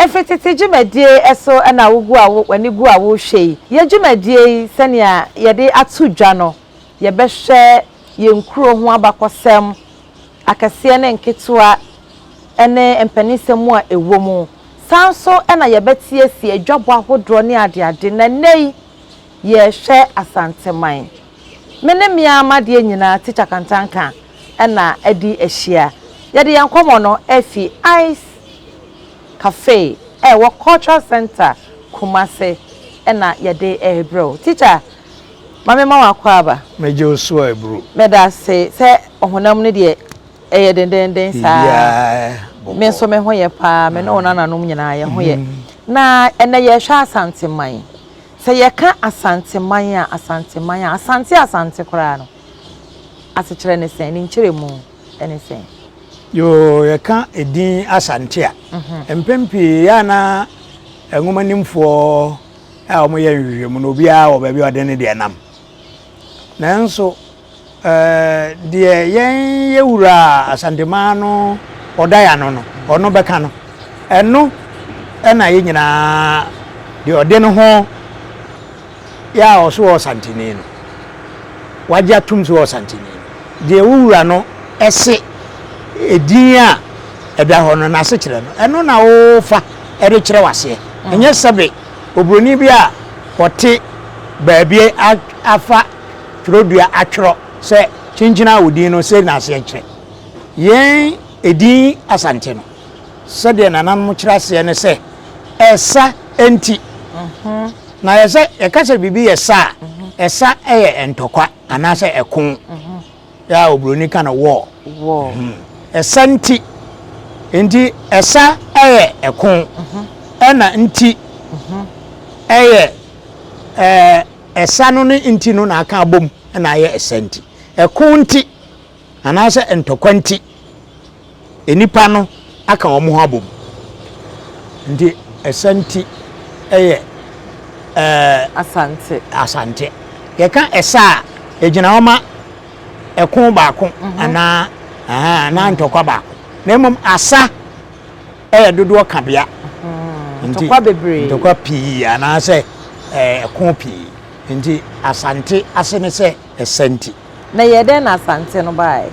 Efi tete dwumadie so na wogu a w'ani gu a worehwɛ yi. Yɛn dwumadie yi sɛnea yɛde ato dwa no, yɛbɛhwɛ yɛn kuro ho abakɔsɛm, akɛseɛ ne nketewa ne mpaninsɛm mu a ɛwɔ mu. Saa nso na yɛbɛteasie adwabɔ ahodoɔ ne adeade na nnɛ yi yɛrehwɛ Asanteman. Me ne me ara m'adeɛ nyinaa Teacher Kantanka na adi ahyia. Yɛde yɛn nkɔmmɔ no afi Ice Cafe a ɛwɔ Cultural Centre Kumasi na yɛde rebrɛ wo. Teacher. Ma me mma w'akwaaba. Mɛgye wo so a ɛburo. Meda ase sɛ ɔhonam no deɛ ɛyɛ dendenden saa. Biribiara bɔkɔɔ. Me nso me ho yɛ paa, me ne wo nananom nyinaa yɛn ho yɛ. Na ɛnnɛ yɛrehwɛ Asanteman. Sɛ yɛka Asanteman a, Asanteman a, Asante Asante koraa no, asekyerɛ ne sɛn? Ne nkyerɛmu ne sɛn? Yoo, yɛka edin Asante a, mpɛn pii ɛyɛ a na nwomanimfoɔ. a wɔyɛ nhwehwɛmu no obiara wɔ baabi a ɔde ne deɛ nam nanso ɛɛ deɛ yɛn yɛ wura asantemaa no ɔda yɛ ano no ɔno bɛka no ɛno ɛna yɛ nyinaa deɛ ɔde ne ho yɛ a ɔso wɔ ɔsanteni no wagye atum so wɔ ɔsanteni no deɛ wowura no ɛse edin a ɛda hɔ no n'asekyerɛ no ɛno na wofa ɛde kyerɛ waseɛ ɛnyɛ sɛbe Oburoni bi a ɔte baabi afa twerɛdua atwerɛ sɛ, Kyenkyene a odin no sei n'aseɛ kyerɛ. Yɛn edin Asante no, sɛdeɛ nananom kyerɛ aseɛ ne sɛ, ɛsa nti. Na yɛsɛ yɛka sɛ biribi yɛ sa a, ɛsa yɛ ntɔkwa anaasɛ ɛko. Yaa oburoni ka no wɔɔ. Wɔɔ. Hmm. Ɛsa nti. Nti ɛsa ɛyɛ ɛko. Mhm. Ɛna nti. Mhm. Ɛyɛ ɛɛ ɛsa no ne nti no na aka abom ɛna ayɛ ɛsa nti. Ɛko nti anaasɛ ntɔkwa nti. Nnipa no aka wɔn ho abom nti Ɛsanti yɛ Asante. Asante. Yɛka Ɛsa a, ɛgyina hɔ ma ɛko baako anaa anaa ntɔkwa baako. Na mmom Asa yɛ dodoɔ kabea. Ntɔkwa bebree. Ntɔkwa pii anaasɛ ɛko pii. Nti Asante ase ne sɛ. ɛsɛ nti. Na ɛyɛɛ dɛn na Asante no baeɛ?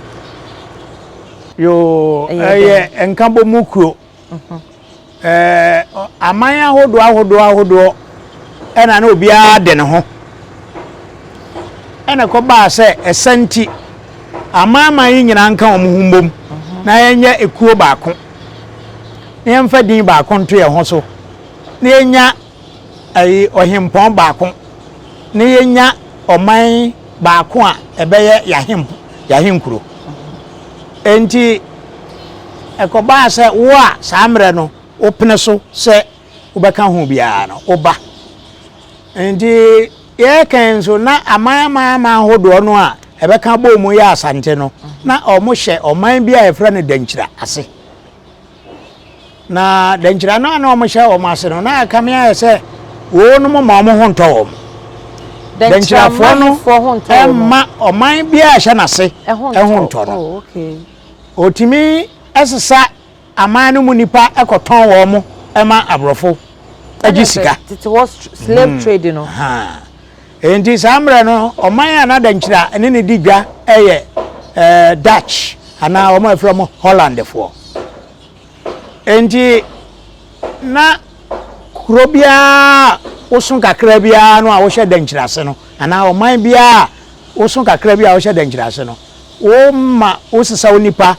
Yoo, ɛyɛ Nkabɔmu kuro. Aman ahodoɔ ahodoɔ ahodoɔ na na obiara de ne ho. Ɛna ɛkɔbaa sɛ Asante, amanaman yi nyinaa nka wɔn ho mbom na yɛnyɛ ekuo baako, na yɛmfa din baako nto yɛn ho so, na yɛnya. ayi ɔhempɔn baako na yɛanya ɔman baako a ɛbɛyɛ yɛahenkuro. Enti ɛkɔbaa sɛ wo a saa mmerɛ no wopene so sɛ wobɛka ho biara no, woba. Enti yɛkɛn nso na aman aman aman hodoɔ no a ɛbɛka bɔɔ mu yɛ Asante no, na wɔhyɛ ɔman bi a yɛfrɛ no Dankyira ase. Na dankyira no a na wɔhyɛ wɔn ase no, na ɛkame ayɛ sɛ wɔnom ma wɔn ho ntɔ wɔn. Dankyirafoɔ no mma ɔman biara a ɛhyɛ n'ase ho ntɔ no. Ɔtumi oh, sesa aman no mu nnipa kɔtɔn wɔn mo ma aborɔfo agye sika. Tete hɔ slave mm. trade no. Enti saa mmerɛ no, ɔman a na dankyire a ɛne no di dwa yɛ Dutch anaa wɔn a wɔfrɛ wɔn Hollandfoɔ. Enti na kuro biara a woso kakra biara no a wohyɛ dankyire ase no anaa ɔman biara a woso kakra bi a wohyɛ dankyire ase no, woma wosesa wo nipa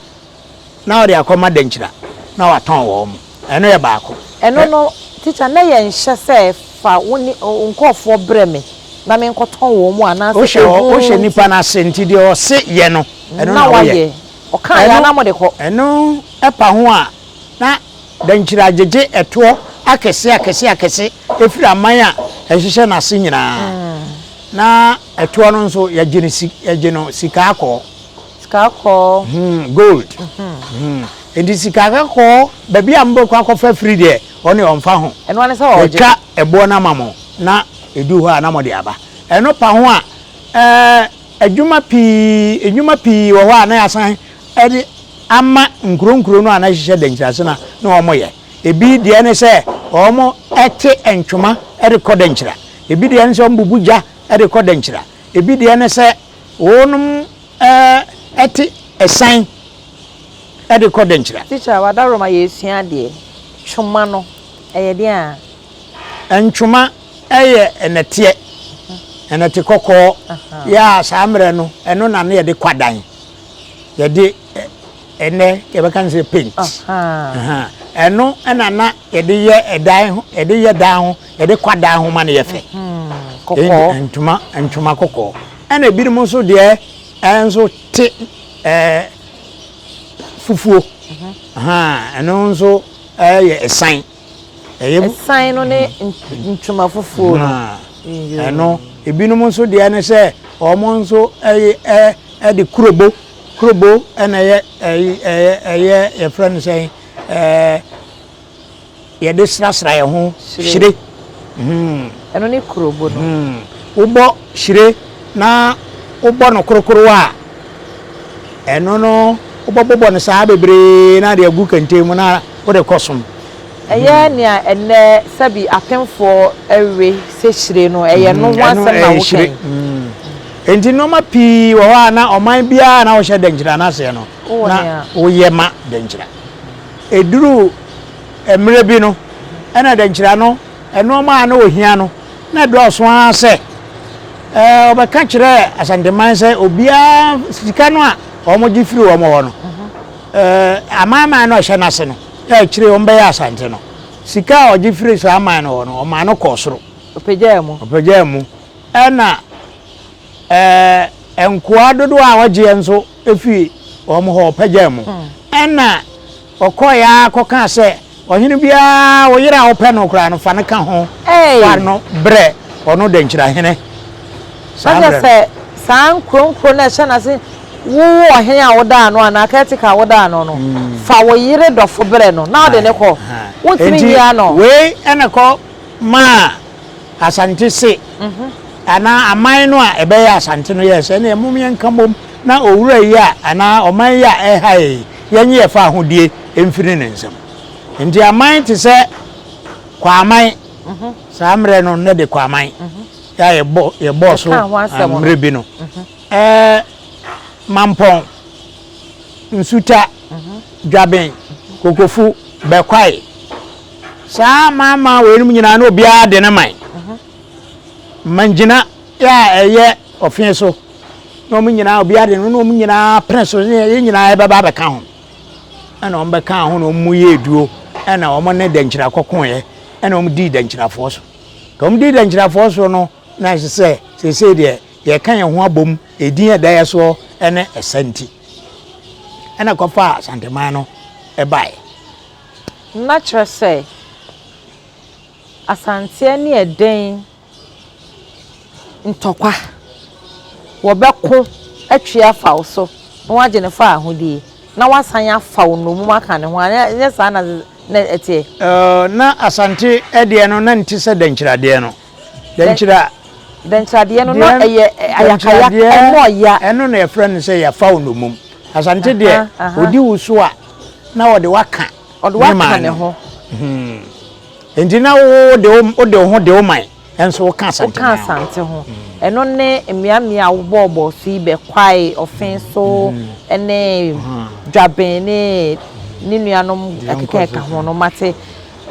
Na ɔde akɔma Dankyira na watɔn wɔ hɔ. Ɛno yɛ baako. Ɛno no, tikya, na yɛ nhyɛ sɛ fa wo ne wo nkorɔfoɔ brɛ me na me nkɔtɔn wɔ mu anaa sɛ ɛho nti. Wo hyɛ nipa no ase nti deɛ ɔse yɛ no, ɛno na wo yɛ. Ɔkaa yɛ a na mo de kɔ. Ɛno ɛpa ho a, na Dankyira agyegye ɛtoɔ akɛse akɛse akɛse ɛfiri aman a ɛhyehyɛ no ase nyinaa. Na ɛtoɔ no nso yɛgye no sika akɔɔ. Sika kɔɔ. Hmm gold. Hmm nti sika kakɔɔ baabi a mobɛkɔ akɔfa firi deɛ ɔno deɛ ɔmfa ho. Ɛno ara ne sɛ ɔgye. Watwa ɛboɔ no ama mo na ɛdu hɔ a na mode aba. Ɛno pa ho a ɛɛ adwuma pii nnwuma pii wɔ hɔ a na yɛasan de ama nkuro nkuro no a na yɛhyehyɛ da nkyirase no a na wɔyɛ. Ɛbi deɛ ne sɛ wɔte ntwoma de kɔ da nkyira. Ɛbi deɛ ne sɛ wɔbubu gya de kɔ da nkyira. Ɛbi deɛ ne sɛ. Wɔnom te ɛsan de kɔ Dankyira. Teacher w'adaworo ma yɛsua adeɛ. Twoma no ɛyɛ deɛn aa? Ntwoma yɛ nnɛteɛ, nnɛte kɔkɔɔ, yɛ a saa mmerɛ no ɛno na na yɛde kɔ adan. Yɛde ɛnɛ yɛbɛka no sɛ paint ɛno ɛna na yɛde yɛ ɛdan ho yɛde yɛ dan ho yɛde kwa dan ho ma no yɛ fɛ kɔkɔɔ ntoma ntoma kɔkɔɔ ɛna ebinom nso deɛ ɛnso te ɛɛ fufuo ɛno nso ɛyɛ ɛsan. Ɛsan no ne ntoma foforɔ no. Ɛno, ebinom nso deɛ ne sɛ wɔn nso de kurobo, kurobo na ɛyɛ ɛyɛ yɛfrɛ no sɛn yɛde srasra yɛn ho hyire. Hmm. Ɛno ne kurobo no. Hmm. Wobɔ hyire na wobɔ no korokoro a. Ɛno no wobɛbobɔ no saa bebree na ade agu kɛntɛn mu na wode kɔ som. Ɛyɛ nea ɛnnɛ sɛbi apemfoɔ we sɛ hyire no, ɛyɛ no ho asɛm na woka yi? Enti nnoɔma pii wɔ hɔ a na ɔman biara a na wɔhyɛ dɛnkyira no aseɛ no na woyɛ ma dɛnkyira. Ɛduru mmerɛ bi no ɛna dɛnkyira no Nnoɔma a na wɔhia no, na ɛdɔɔso ara sɛ wɔbɛka kyerɛ Asanteman sɛ obiara sika no a wɔgye firi wɔn hɔ no, amanman no a ɛhyɛ no ase no a akyire yi wɔbɛyɛ Asante no, sika a wɔgye firi saa aman no hɔ no, wɔmaa no kɔɔ soro. Ɔpagyaa mu. Ɔpagyaa mu. Ɛna nkoa dodoɔ a wɔgyeɛ nso, fii wɔn hɔ, wɔpagyaa mu. Ɛnna ɔkɔe ara kɔkaa sɛ, Ɔhene biara, wo yere a wopɛ no koraa no, fa no ka ho fa no brɛ ɔno dɛnkyerɛhene. Saa berɛ no. saa nkuronkuro no a ɛhyɛ n'ase, wo ɔhene a wodaa no anaa caretaker a wodaa no no, fa wo yere dɔfo brɛ no na ɔde no kɔ. Wontumi nyi ano. Wei na ɛkɔ maa. Asante se, anaa aman no a ɛbɛyɛ Asante no yɛɛ sɛ, ɛneɛ mom yɛnka mmom na owura yi a anaa ɔman yi a ɛha yɛn yi, yɛnye yɛfa ahodie mfiri ne nsam. Enti aman te sɛ Kwaaman, saa mmerɛ no na de Kwaaman a yɛbɔɔ so mmerɛ bi no, Mampɔn, Nsuta, Dwaben, Kokofu, Bɛkwae. Saa amanaman weinom nyinaa na obiara de ne man ma ngyina a ɛyɛ ɔfee so na wɔn nyinaa obiara de no na wɔn nyinaa pene so ne yɛn nyinaa yɛbɛba abɛka ho ɛna wɔn bɛka ho na wɔn mu yɛ eduo ɛna wɔn ne dankyira kɔkɔɔyɛ ɛna wɔn dii dankyirafoɔ so ka wɔn dii dankyirafoɔ so no na ɛsɛ sɛ sese deɛ yɛka yɛn ho abom Edin a ɛda yɛn soɔ ne ɛsa nti na ɛkɔfaa Asanteman no baeɛ. Na kyerɛ sɛ, Asanteɛ ne ɛdɛn ntɔkwa? Wɔbɛko atwi afa wo so na wɔagye ne fɔ ahodie na wɔasan afa wo nnommum aka ne ho a, ɛnyɛ saa na na ɛteɛ? Na Asante deɛ no, na ne ti sɛ dankyiradeɛ no. Dɛnkyerɛ. Dɛnkyerɛadeɛ no na ɛyɛ ayakaya, ɛmu ɔya. Ɛno na yɛfrɛ no sɛ yɛfa wo nnommum. Asante deɛ, ɔdi wo so a, na ɔde wo aka ne man no. Enti na wo wode wo ho de wo man nso woka Asante ho. Woka Asante ho. Ɛno ne mmeammea a wobɔɔbɔɔ so yi, Bɛkwae, Ɔfenso, ne Dwaben ne ne nuanom ɛkeka ɛka ho no, moate.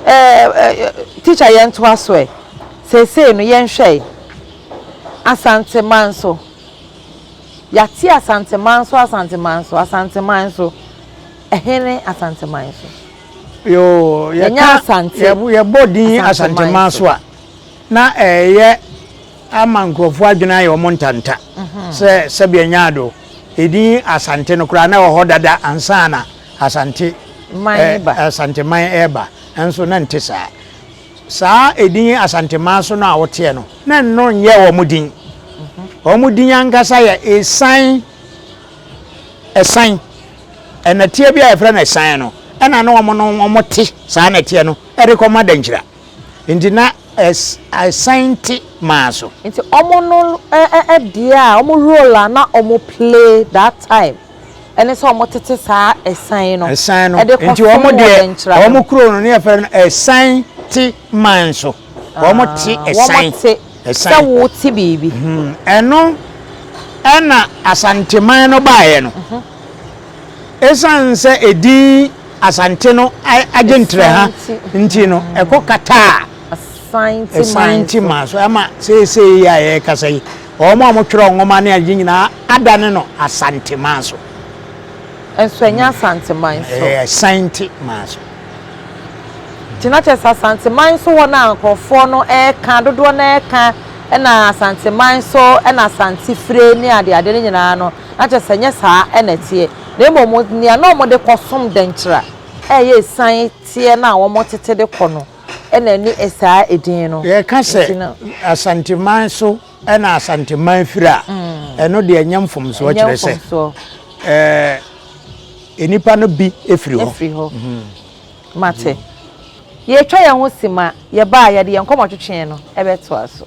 Eh teacher yɛn toa so ɛ. Seesei no yɛn hwɛ ɛ. Asanteman so. Yate Asanteman so Asanteman so Asanteman so. Ɛhe ne Asanteman so? Yoo yɛka yɛbɔ din Asanteman so a na ɛyɛ ama nkurɔfoɔ adwene ayɛ wɔn ntanta mhm. sɛ sɛbi ɛnyɛ ado. Edin Asante no koraa na ɛwɔ hɔ dada ansana. Asante Asanteman reba nso na nte saa. Saa edin Asanteman so no a woteɛ no, na ɛno nyɛ wɔn din. Wɔn din ankasa yɛ Esan, Ɛsan. Ɛnɛteɛ bi a yɛfrɛ no Ɛsan no, ɛna na wɔn no wɔn te saa nɛteɛ no de kɔma Dankyira. Nti na ɛsan nte maa so. Nti ɔmo no deɛ a ɔmo role a na ɔmo play that time ɛne sɛ ɔmo tete saa ɛsan no ɛde kɔ so mu wɔ Dɛnkyira no. Ɔmo kuro no ne yɛfrɛ no ɛsan te man so. Ɔmo te ɛsan. Ɔmo te sɛ wo te biribi. Ɛno ɛna Asanteman no baeɛ no. Esiane sɛ edin Asante no agye ntraha nti no, ɛkɔkataa Asanti man so ma seesei yi a yɛrekasa yi, wɔn a wɔtwerɛ nwoma ne ade nyinaa adane no Asante man so. Nso ɛnyɛ Asante man so. Ɛyɛ Asanti man so. Nti na kyerɛ sɛ Asante man so hɔ na nkurɔfoɔ no ɛreka, dodoɔ no ɛreka, ɛna Asante man so ɛna Asante fire ne adeade no nyinaa no. na kyerɛ sɛ ɛnyɛ saa na ɛteɛ, na mmom nea na wɔde kɔsom dɛnkyɛr a ɛyɛ esian teɛ no a wɔtete de kɔ no na ɛne saa edin no gyina. Yɛka sɛ Asanteman so na Asanteman firi a, ɛno deɛ ɛnyɛ mfomsoɔ, kyerɛ sɛ nnipa no bi firi hɔ. Firi hɔ. Mate. Yɛatwa yɛn ho si ma yɛba a yɛde yɛn nkɔmmɔtwetwe no bɛtoa so.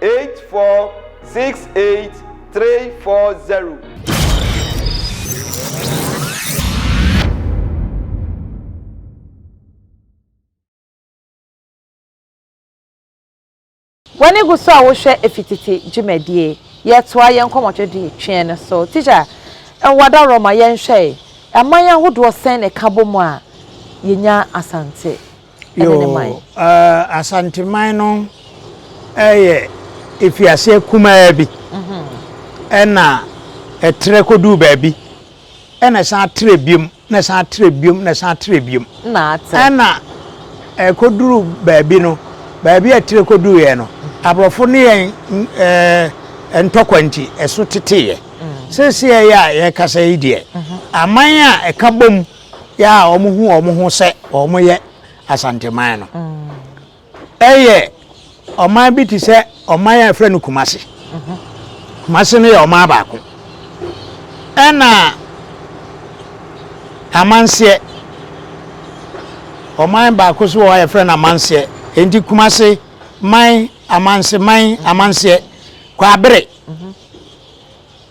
eight four six eight three four zero. W'ani gu so a wohwɛ efitete dwumadie yɛtoa yɛn nkɔmmɔtwetwe tweɛ no so. Teacher, ɛwɔ adaworɔ ma yɛnhwɛe, aman ahodoɔ sɛn na ɛka bɔ mu a yɛnya Asante? ne ne man. Yoo, Asanteman no yɛ afiaseɛ kumaa bi ɛna ɛtrɛ kɔduu baabi ɛna ɛsan atrɛ biom na ɛsan atrɛ biom na ɛsan atrɛ biom ɛna ɛkɔduru baabi no baabi a ɛtrɛ kɔduuɛ no aborɔfo ne yɛn ɛɛ ntɔkwa nti ɛso teteeɛ seeseɛ yɛ a yɛkasa yi deɛ aman a ɛka bom yɛ a wɔhu wɔn ho sɛ wɔyɛ Asanteman no, ɛyɛ ɔman bi te sɛ ɔman a yɛfrɛ no Kumasi. Kumasi no yɛ ɔman baako. Ɛna Amanseɛ, ɔman baako so wɔ hɔ a yɛfrɛ no Amanseɛ. Enti Kumasi man, Amanse man, Amanseɛ, Kwabere.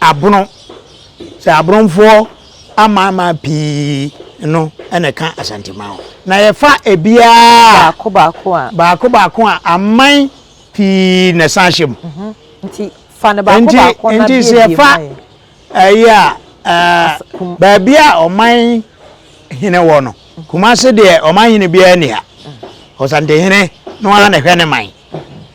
Abono, sɛ Aborɔnfoɔ amanaman pii no na ɛka Asante man ho. Na yɛfa ebiara a, Baako baako a. baako baako a, aman pii na ɛsan ahyɛ mu. Nti fa no baako Nti, baako na nti sɛ buebue yɛfa ma yɛn. ɛyi a, ɛɛ, As- kum- baabi a ɔman hene wɔ no, Kumase deɛ ɔman hene biara nni ha. Ɔsantehene no ara na ɛhwɛ ne man.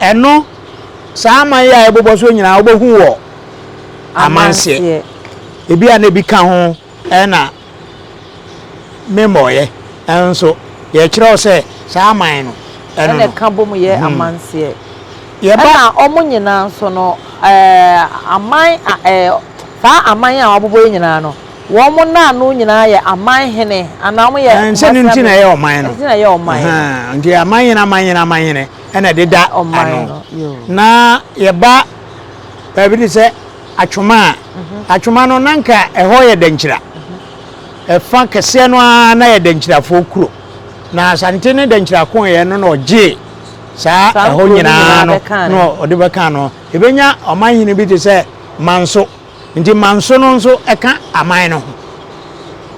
Ɛno, saa aman yi a ɛbobɔ soɔ nyinaa wobɛhu wɔ amanseɛ. Ebi a na ebi ka ho na memmɔeɛ nso. Yɛkyerɛ wo sɛ saa aman no ɛno no. Ɛna ɛka bom yɛ hmm. amanseɛ. Ɛna wɔn nyinaa nso no, aman, saa aman a wɔabobɔ yi nyinaa no, Wɔn nnaano nyinaa yɛ aman hene anaa wɔyɛ Kumasi Amansan. Ɛnhyɛ no nti na ɛyɛ ɔman no. Nti na ɛyɛ ɔman no. Ahaa nti aman hene aman hene aman hene ɛna ɛdeda ano. Na yɛba baabi te sɛ Atwoma a, Atwoma no na nka ɛhɔ yɛ Dankyira. Ɛfa kɛseɛ no ara na yɛ Dankyirafoɔ kuro. Na Asante ne Dankyira koeɛ no na ɔgyee saa ɛhɔ nyinaa no na ɔde bɛkaa no. Yɛbɛnya ɔman hene bi te sɛ Manso. Nti manso no nso ɛka aman no ho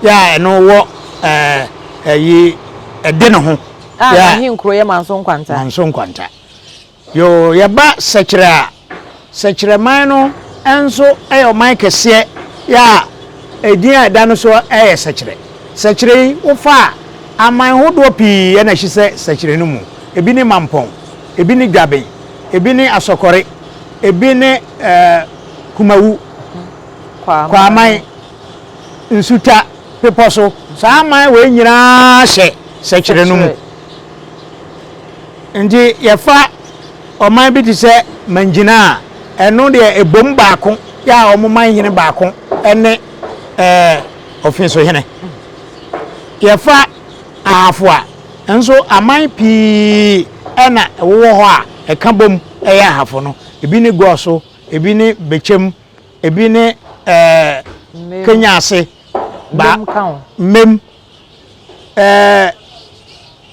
yɛ a ɛno wɔ ɛɛ ɛyi ɛde ne ho. A yɛ n'ahenkuro yɛ manso nkwanta. Manso nkwanta yoo yɛba sɛkyerɛ a sɛkyerɛ man no nso ɛyɛ ɔman kɛseɛ yɛ a edin a ɛda no so ɛyɛ sɛkyerɛ sɛkyerɛ yi wofa a aman hodoɔ pii ɛna ɛhyi sɛ sɛkyerɛ no mu ebi ne mampɔn ebi ne dwaben ebi ne asɔkɔre ebi ne ɛɛ. Kumawu, Kwaaman, Nsuta, Bepɔso, saa aman wei nyinaa hyɛ sɛkyerɛ no mu. Nti yɛfa ɔman bi te sɛ Mangyina a, ɛno deɛ ɛbom baako yɛ a wɔn man hene baako ne ɛɛ Ofinso hene. Yɛfa Ahafo a, nso aman pii na ɛwowɔ hɔ a ɛka bom yɛ Ahafo no. Ebi ne Goso. Ebi ne bɛkyɛm, ebi ne ɛɛ kenya ase. Ba mmem. Ɛɛ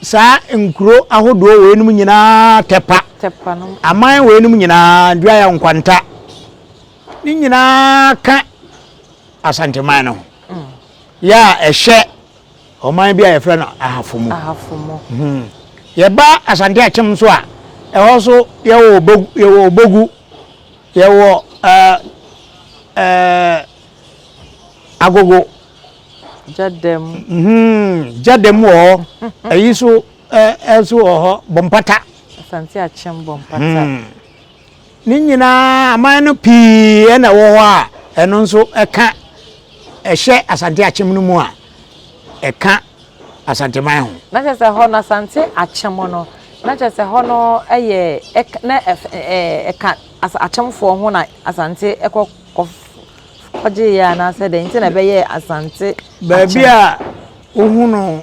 saa nkuro ahodoɔ wɔ enom nyinaa tɛpa. Tɛpa no. Aman wɔ enom nyinaa duaya nkwanta. Ne nyinaa ka asanteman no ho. Mm. Yɛ a ɛhyɛ. Ɔman bi a yɛfrɛ no Ahafomo. Ahafomo. Yɛba Asante Akyem nso a, ɛhɔ nso yɛwɔ Obogu, yɛwɔ Obogu, yɛwɔ ɛɛ ɛɛ Agogo. Gyadam. Gyadam wɔ hɔ. Ɛyi nso ɛɛ nso wɔ hɔ Bompata. Asante Akyem Bompata. Ne nyinaa aman no pii na ɛwɔ hɔ a ɛno nso ɛka ɛhyɛ Asante Akyem no mu a ɛka Asanteman ho. Na kyerɛ sɛ hɔ no Asante Akyem no na kyerɛ sɛ hɔ no yɛ na ɛka Akyemfoɔ ho na Asante kɔ kɔ kɔgye yɛ anaasɛ dɛn nti na ɛbɛyɛ Asante Akyem. Baabi a wohu no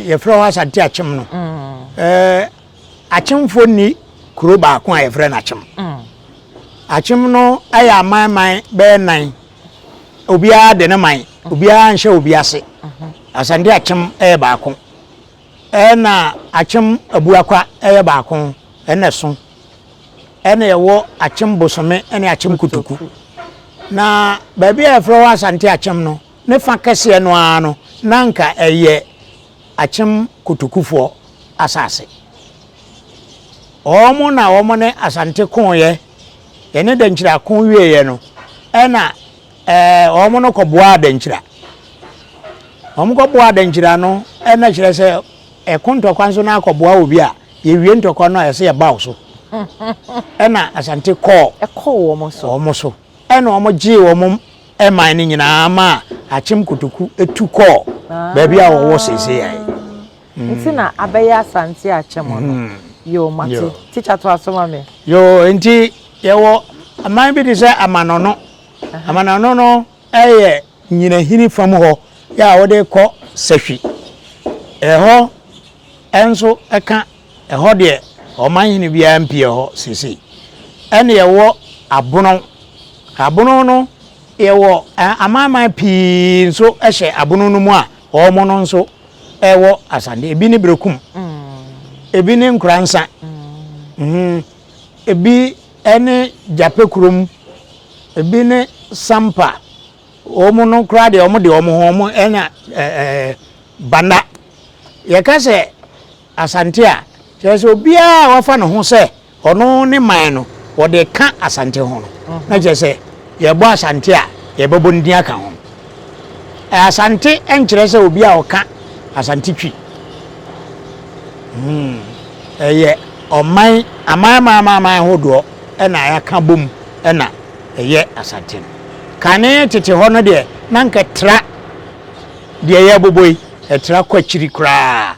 yɛfrɛ hɔ Asante Akyem no. Mm. Eh, Akyemfo nni kurow baako a wɔfrɛ no Akyem. Akyem no yɛ aman man bɛyɛ nnan. Obiara de ne man. Obiara nhyɛ obi ase. Asante Akyem yɛ baako. Ɛna Akyem Abuakwa yɛ baako. Ɛna ɛso. Ɛna ɛwɔ Akyem Bosome ne Akyem Kotoku. Na baabi a wɔfrɛ hɔ Asante Akyem no, ne fa kɛseɛ no ara no, na anka ɛyɛ Akyem Kotokufoɔ asase. Wɔn na wɔn ne Asante koeɛ, yɛne Dankyira ko wieeɛ no, ɛna ɛɛ wɔn no kɔboaa Dankyira. Wɔn kɔboaa Dankyira no, ɛna kyerɛ sɛ ɛko ntɔkwa nso na akɔboa obi a, yɛwie ntɔkwa no a ɛsɛ yɛba wo so. Ɛna Asante kɔɔ. Ɛkɔɔ wɔn so. Wɔn so. Ɛna wɔn gyee wɔn Ɛmae no nyinaa maa Akyem Kotoku tu kɔɔ baabi a ɔwɔ seesei a. Ah, nti na abɛyɛ Asante Akyem no. Mm. Yoo, mate. Yoo. Tikya toa so ma me. Yoo, nti yɛwɔ aman bi te sɛ Amanɔno. Amanɔno no yɛ nyinahini fam hɔ yɛ a wode kɔ Sahwi. Ɛhɔ nso ka Ɛhɔ deɛ, ɔmanhene biara mpue hɔ seesei. Ɛnna yɛwɔ abonɔ. Abonɔ no, yɛwɔ amanaman pii nso hyɛ abonɔ no mu a wɔn no nso wɔ Asante. Ebi ne Berekum, ebi ne Nkoransa, ebi ne Gyapɛkurom, ebi ne Sampa. Wɔn no koraa deɛ, wɔde wɔn ho wɔn anya Banda. Yɛka sɛ Asante a, kyerɛ sɛ obiara a wafa ne ho sɛ ɔno ne man no, wɔde reka Asante ho no, na kyerɛ sɛ yɛrebɔ Asante a, yɛbɛbɔ ne din aka ho. Asante nkyerɛ sɛ obi a ɔka Asante Twi. Hmm. Ɛyɛ ɔman, aman aman aman aman hodoɔ ɛna yɛaka bom ɛna ɛyɛ Asante no. Kane tete hɔ no deɛ, na nka ɛtra deɛ yɛbobɔ yi, ɛtra kɔ akyiri koraa.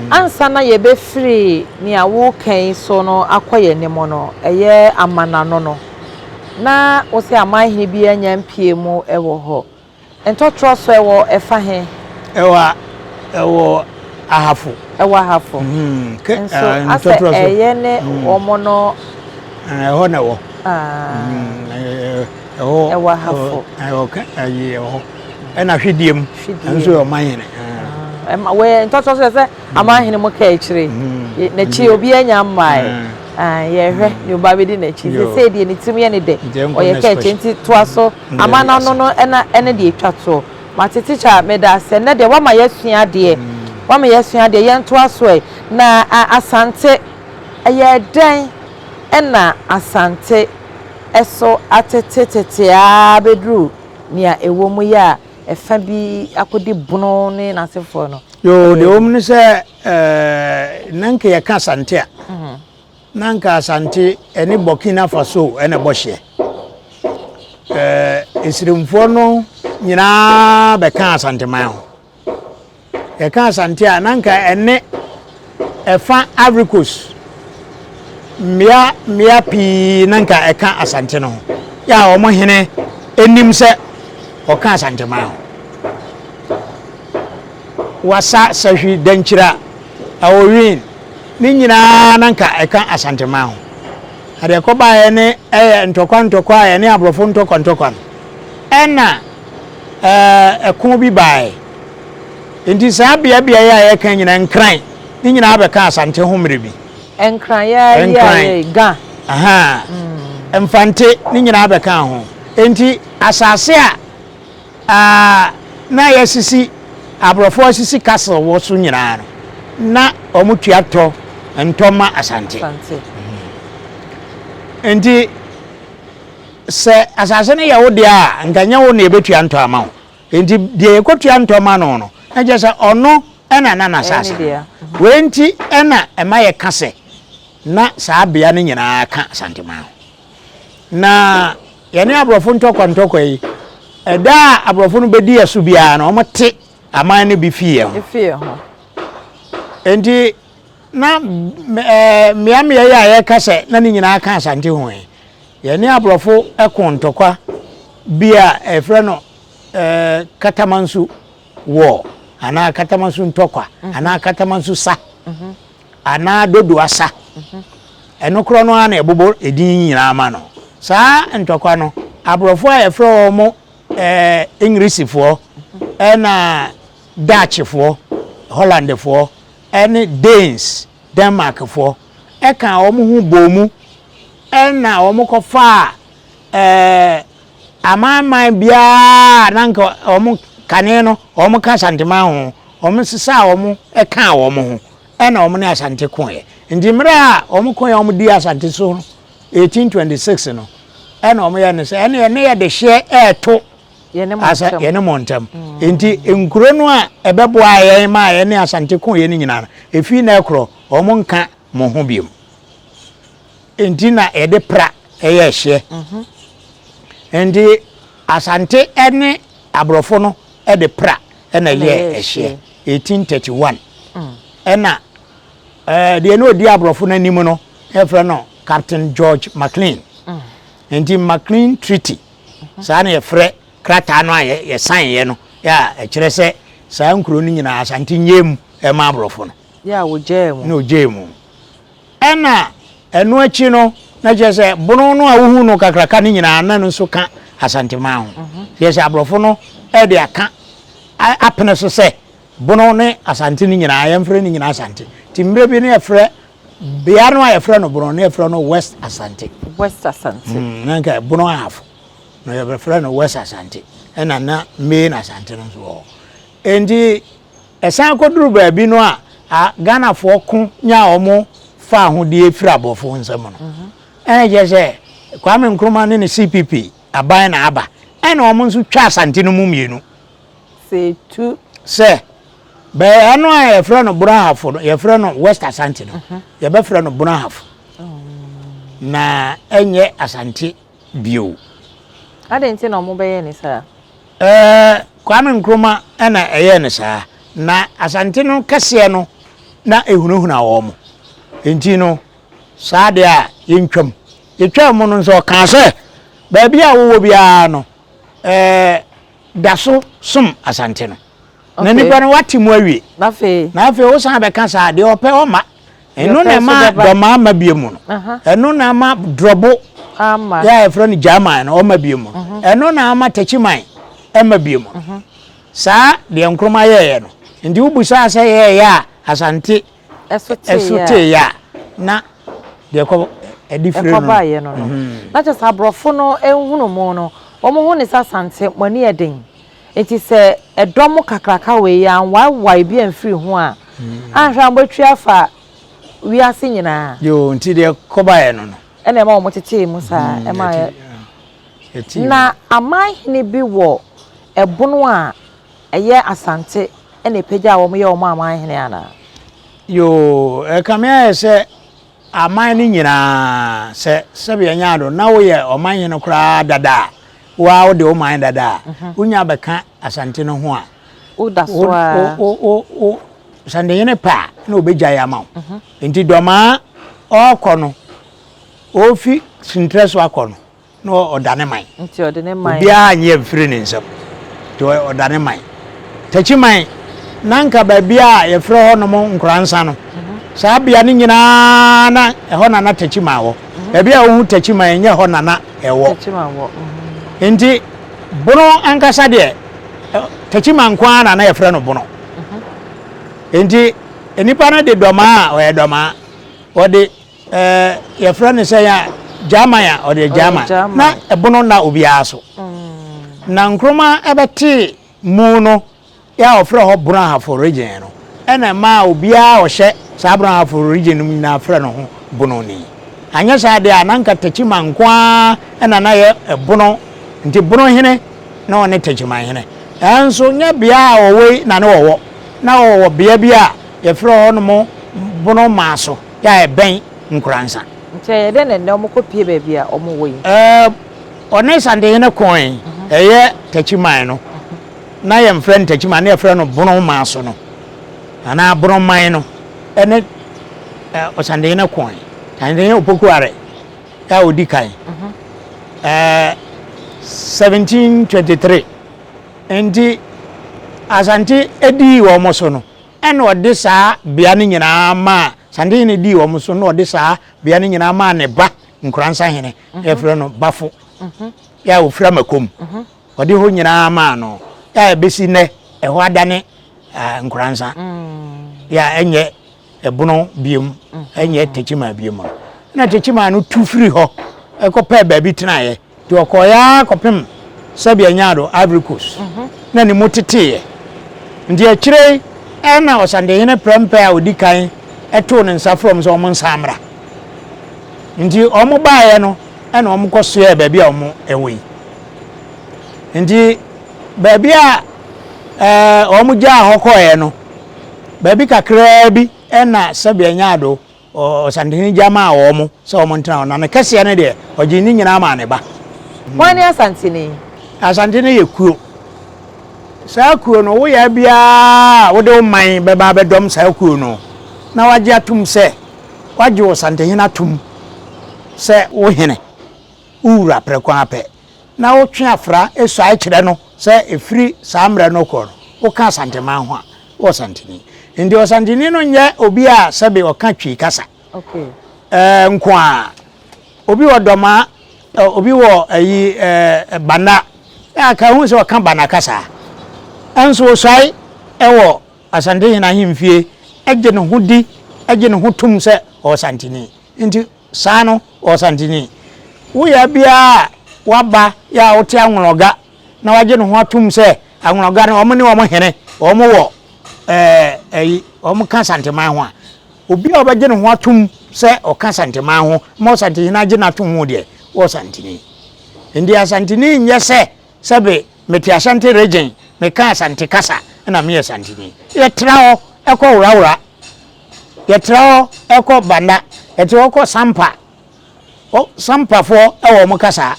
Ansa na yɛbɛfiri nea woreka yi so no akɔ yɛn anim no, ɛyɛ amanano no, na wo sɛ amanhene biara nnya mpuee mu wɔ hɔ. Ntɔtorɔ so ɛwɔ ɛfa he? Ɛwɔ a, ɛwɔ ahafo. Ɛwɔ ahafo. Nso asɛ ɛyɛ ne wɔn no. Ɛhɔ na ɛwɔ. ɛwɔ ahafo ɛwɔ ka ayi ɛwɔ hɔ ɛna hwedie mu ɛnso yɛ ɔman hene ɛma wɛ ntɔtɔ so sɛ aman hene mu kaa akyire n'akyi obi anya mmae yɛhwɛ ne ɔba bɛdi n'akyi nti sɛ deɛ ne tirim yɛ ne dɛ ɔyɛ kaa akyire nti toa so ama no ano no ɛna ɛne deɛ ɛtwa toɔ mate tikya meda asɛ nnɛ deɛ wama yɛasua adeɛ wama yɛasua adeɛ yɛntoa so ɛ na asante ɛyɛ dɛn ɛna asante so atete tete ara abɛduru nea ɛwɔ mu yɛ a ɛfa bi akɔdi Bono ne n'asefoɔ no. Yoo, deɛ ɛwɔ mu ne sɛ ɛɛ na nka yɛka Asante a, mhm. na nka Asante ɛne Burkina Faso ɛna ɛbɔ hyeɛ. Ɛɛ nsiremfoɔ no nyinaa bɛka Asanteman ho. Yɛka Asante a, na anka ɛne ɛfa Ivory Coast. Mmea mmea pii na anka ɛka Asante no ho. Yɛ a wɔn hene anim sɛ ɔka Asante man ho. Wasa, Sahwi, Dankyira, Aowin, ne nyinaa na anka ɛka Asante man ho. Na deɛ ɛkɔbaeɛ ne ɛyɛ ntɔkwa ntɔkwa a ɛne aborɔfo ntɔkwa ntɔkwa no. Ɛnna ɛko bi baeɛ. Enti saa beabeaeɛ a yɛreka yi nyinaa, Nkran, ne nyinaa bɛkaa Asante ho mmerɛ bi. Nkran, yɛa yi a yɛyi, Ga. Ahaa. Mfante, ne nyinaa bɛkaa ho. Enti asase a na yɛasisi, aborɔfoɔ asisi castle wɔ so nyinaa no, na wɔtua tɔ ntɔ ma Asante. Enti. Sɛ asase no yɛ wo dea a, anka ɛnyɛ wo na ebetua ntɔ ama wo. Enti deɛ yɛkɔtua ntɔ ma no no, na kyerɛ sɛ ɔno na na n'asase no. Wei nti na ɛma yɛka sɛ na saa bea no nyinaa ka Asanteman ho. Na yɛne aborɔfo ntɔkwa-ntɔkwa yi, ɛda a aborɔfo no bɛdi yɛn so biara no, wɔte aman no bi fi yɛn ho. Enti na mmeammea yi a yɛka sɛ na ne nyinaa ka Asante ho yi, Yɛne aborɔfo koo ntɔkwa bi a yɛfrɛ no Katamansu War anaa Katamansu ntɔkwa anaa Katamansu sa anaa Dodoa sa. Ɛno korɔ no ara na ɛbobɔ edin nyinaa ma no. Saa ntɔkwa no, aborɔfo a yɛfrɛ wɔn Englisifoɔ ɛna Dutchfoɔ, Hollandfoɔ ɛne Danes, Denmarkfoɔ, kaa wɔn ho bɔɔ mu na wɔkɔfaa amanaman biara a na anka wɔn kane no wɔka Asanteman ho, wɔsesaa wɔn kaa wɔn ho na wɔn ne Asante koeɛ. Nti mmerɛ a wɔkoeɛ a wɔdii Asante so no, 1826 no, na wɔyɛ no sɛ ɛneɛ ne yɛdehyeɛ reto. asa yɛne mo ntam nti nkuro no a ɛbɛboaa yɛn ma yɛne asante ko yɛn nyinaa no ɛfii na ɛkorɔ wɔn nka mo ho biom nti na yɛde pra ɛyɛ ɛhyeɛ mhm. nti asante ɛne aborɔfo no ɛde pra ɛna ɛyɛ ɛhyeɛ 1831 mm. ɛna ɛɛ deɛ ne odi aborɔfo no anim no ɛfrɛ no Captain George McLean mm. nti McLean Treaty Saa na yɛfrɛ krataa no a yɛsaneeɛ no a ɛkyerɛ sɛ saa nkuro no nyinaa Asante nnyɛɛ mu mma aborɔfo no. Yɛ a wɔgyaee mu. Na wɔgyaee mu. Ɛna ɛno akyi no, na kyerɛ sɛ bono no a wohu no kakraka no nyinaa na no nso ka Asanteman ho. Kyerɛ sɛ aborɔfo no de aka apene so sɛ Bono ne Asante no nyinaa, yɛmfrɛ ne nyinaa Asante. Nti mmerɛ bi no yɛfrɛ bea no a yɛfrɛ no Bono no yɛfrɛ no West Asante. West Asante. Mm, na nka Bono half no yɛbɛfrɛ no West Asante. Ɛna na Main Asante no nso wɔ hɔ. Enti ɛsan kɔduru baabi no a, a Ghanafoɔ ko nyaa wɔn faa ho die firi aborɔfoɔ nsam no. Mhm. Ɛna kyerɛ sɛ Kwame Nkrumah ne ne CPP aban na aba. Ɛna wɔn nso twa Asante no mu mmienu. Sɛ etu. Sɛ, bɛɛya no a yɛfrɛ no Borɔhafo no, yɛfrɛ no West Asante no, mhm. yɛbɛfrɛ no Borɔhafo. Oh. Na ɛnyɛ Asante bio. Adɛn nti na wɔbɛyɛ ne saa? Ɛɛ Kwame Nkrumah ɛna ɛyɛ ne saa. Na Asante no kɛseɛ no na ehunahuna wɔn. Nti no, saa deɛ a yɛntwam. Yɛtwaa mu no nso ɔkaa sɛ, baabi a wowɔ biara no, ɛɛ. da so som Asante no. Na nipa no wate mu awie. Na afei. Na afei wo san bɛka saa deɛ ɔpɛ ɔma. Ɛno na ɛma dɔma ama bie mu no. Ɛno na ama drɔbo. Ama. Yɛ a yɛfrɛ no German no ɔma bie mu. Mhm. Ɛno na ama takyiman ɛma bie mu. Mhm. Saa deɛ Nkrumah yɛɛyɛ no. Nti wobusaa sɛ yɛɛyɛ a Asante ɛso tee yɛ a na deɛ ɛkɔ ɛde firi no ɛkɔba yɛ no no na kyɛ sɛ aborɔfo no nhunu mo no wɔn ho ne sɛ asante mo ani yɛ den nti sɛ ɛdɔ mo kakraka wei yɛ anwaewae bi amfiri ho a anhwɛ a mobɛtwi afa wiase nyinaa yoo nti deɛ ɛkɔba yɛ no no ɛna ɛma wɔn kyekyee mu saa ɛma yɛ na aman hene bi wɔ ɛbono a. Ɛyɛ Asante na ɛpagyaa wɔn yɛ wɔn aman hene anaa? Yoo, ɛkame ayɛ sɛ aman no nyinaa, sɛ sɛbea nyaa do na woyɛ ɔman hene koraa dada a, wo ara wode wo man dada a, wonya bɛka Asante no ho a, Woda so wo, ara. wo, wo, wo Asantehene pɛ a, na obegyae ama wo. Enti Dɔmaa ɔɔkɔ no, ofi Sentrɛ so akɔ no, na ɔda ne man. Nti ɔde ne man. Obiara anyɛ mfiri ne nsam. Nti ɔda ne man. Takyiman, na nka baabi a yɛfrɛ hɔ nom Nkoransa no, mhm. saa bea no nyinaa na ɛhɔ na na Takyiman wɔ. Mhm. Baabi a wohu Takyiman ɛnyɛ hɔ na na ɛwɔ. Mhm. Nti bono ankasa deɛ, Takyiman nko ara na na yɛfrɛ no bono. Nti nnipa no de dɔmaa a ɔyɛ dɔmaa, wɔde Ɛɛ yɛfrɛ no sɛn a Gyaman a ɔde Gyaman na ɛbono nna obiara so na Nkrumah ɛbɛtee mu no yɛ a ɔfrɛ hɔ Bonoahafo region no ɛna ɛmaa obiara a ɔhyɛ saa Bonoahafo region no mu nyinaa frɛ ne ho Bononi anyɛ saa deɛ a na nka Takyiman nko ara ɛna na yɛ ɛbono nti Bonohene na ɔne Takyimanhene ɛnso nyɛ bea a ɔwɔ yi na ne ɔwɔ na ɔwɔ bea bi a yɛfrɛ hɔ nom Bonomaso yɛ a ɛbɛn Nkoransa. Nti ɛyɛ dɛn na nnɛ wɔkɔpue baabi a wɔwɔ yi? Ɛɛ, ɔne Santehene kɔe, ɛyɛ Takyiman no. Na yɛmfrɛ no Takyiman, na yɛfrɛ no Bonomaso no, anaa Bonoman no, ɛne Ɔsantehene kɔe. Santehene Opokuare a ɔdi kan, ɛɛ 1723, nti Asante dii wɔn so no, Ɛnna ɔde saa bea no nyinaa maa Santehene dii wɔn so, na ɔde saa bea no nyinaa maa ne ba Nkuransahene, mhm. yɛfrɛ no Bafo, mhm. yɛ a ɔfiri Amakom. Mhm. Ɔde hɔ nyinaa maa no, yɛ a ɛbɛsi nnɛ ɛhɔ adane ah, Nkuransa, mm. yɛ a ɛnyɛ ɛbono biom, ɛnyɛ Techimaa biom. Na Techimaa no tu firi hɔ ɛkɔpɛɛ baabi tenaeɛ. Nti ɔkɔɔeɛ ara kɔpem sɛbea nyaa do, Ivory Coast, na ne mu teteeɛ. Nti akyire yi na Ɔsantehene prɛmpɛ a ɔdi kan too ne nsa frɛɛ wɔn sɛ wɔn nsan mmra. Nti wɔn baeɛ no na wɔn kɔ soɛɛ baabi a wɔn wɔ yi. Nti baabi a wɔn gyaa hɔ kɔɔeɛ no, baabi kakraa bi na sɛbea nyaa do Ɔsantehene gya maa wɔn sɛ wɔntena hɔ, na ne kɛseɛ no deɛ, ɔgyee ne nyinaa maa ne ba. Hwan ne Asantene? Asantene yɛ kuo. Saa kuo no, wo yɛ biara a wode wo man bɛba abɛdɔm saa kuo no, na wagye atom sɛ wagye Ɔsantehene atom sɛ wo hene, wo wura prɛko ara pɛ. na wotwe afra suae kyerɛ no sɛ ɛfiri saa mmerɛ no rekɔ no, woka Asanteman ho a, wowɔ Santini. Nti Ɔsantini no nyɛ obi a sɛbe ɔka Twi kasa ɛɛ nko ara. Obi wɔ Dɔma, obi wɔ ayi ɛɛ Bana, na anka ɛhu sɛ ɔka Bana kasa. Nso ɔsuae ɛwɔ Asantehene ahemfie, ɛgye ne ho di, ɛgye ne ho tom sɛ ɔwɔ Santini. Nti Saa no, Ɔsantini, wo yea biara a waba yɛ a wote Anwloga na wagye ne ho atom sɛ Anwloga no wɔn ne wɔn hene wɔn wɔ ɛɛ ɛyi wɔn ka Asanteman ho a, obi a ɔbɛgye ne ho atom sɛ ɔka Asanteman ho ma Ɔsantehene agye no atom ho deɛ, Ɔsantini, nti Asantini nyɛ sɛ Sɛbe mete Ashanti Regyen, meka Asante kasa na meyɛ Santini. Yɛtra hɔ kɔ Worawora, yɛtra hɔ kɔ Banda, yɛtra hɔ kɔ Sampa, o Sampafoɔ wɔ wɔn kasa,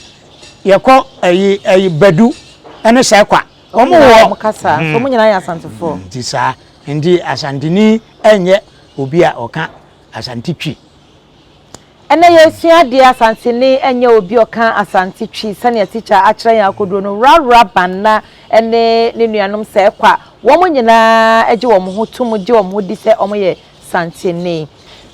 yɛkɔ ayi ayi Badu ne Sɛkwa, wɔn wɔ wɔn hmm. kasa, so wɔn nyinaa yɛ Asantefoɔ. Hmm, nti saa, nti Asantini nyɛ obi a ɔka Asante Twi. Ɛnnɛ yɛresua adeɛ Asante ne ɛnyɛ obi ɔka Asante Twi sɛnea tikya akyerɛ yɛn akoduo no Rara Banna ne ne nuanom sɛ ɛkɔ a wɔn nyinaa gye wɔn ho to mu gye wɔn ho di sɛ wɔyɛ Santeni.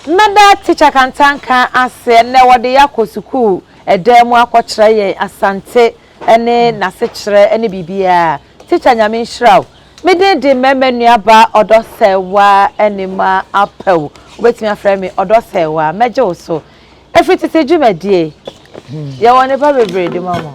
Mɛda tikya kantanka ase ɛnnɛ wɔde yɛn akɔ sukuu dan mu akɔkyerɛ yɛn Asante ne n'asekyerɛ ne biribiara Tikya Nyame nhyira wo Me din de mɛma nuabaa Ɔdɔsɛɛwa anima apɛ wo. Wobɛtumi afrɛ me Ɔdɔsɛɛwa. Mɛgye wo so. Ɛfiri tete dwumadie. Yɛwɔ nneɛma bebree de ma mo.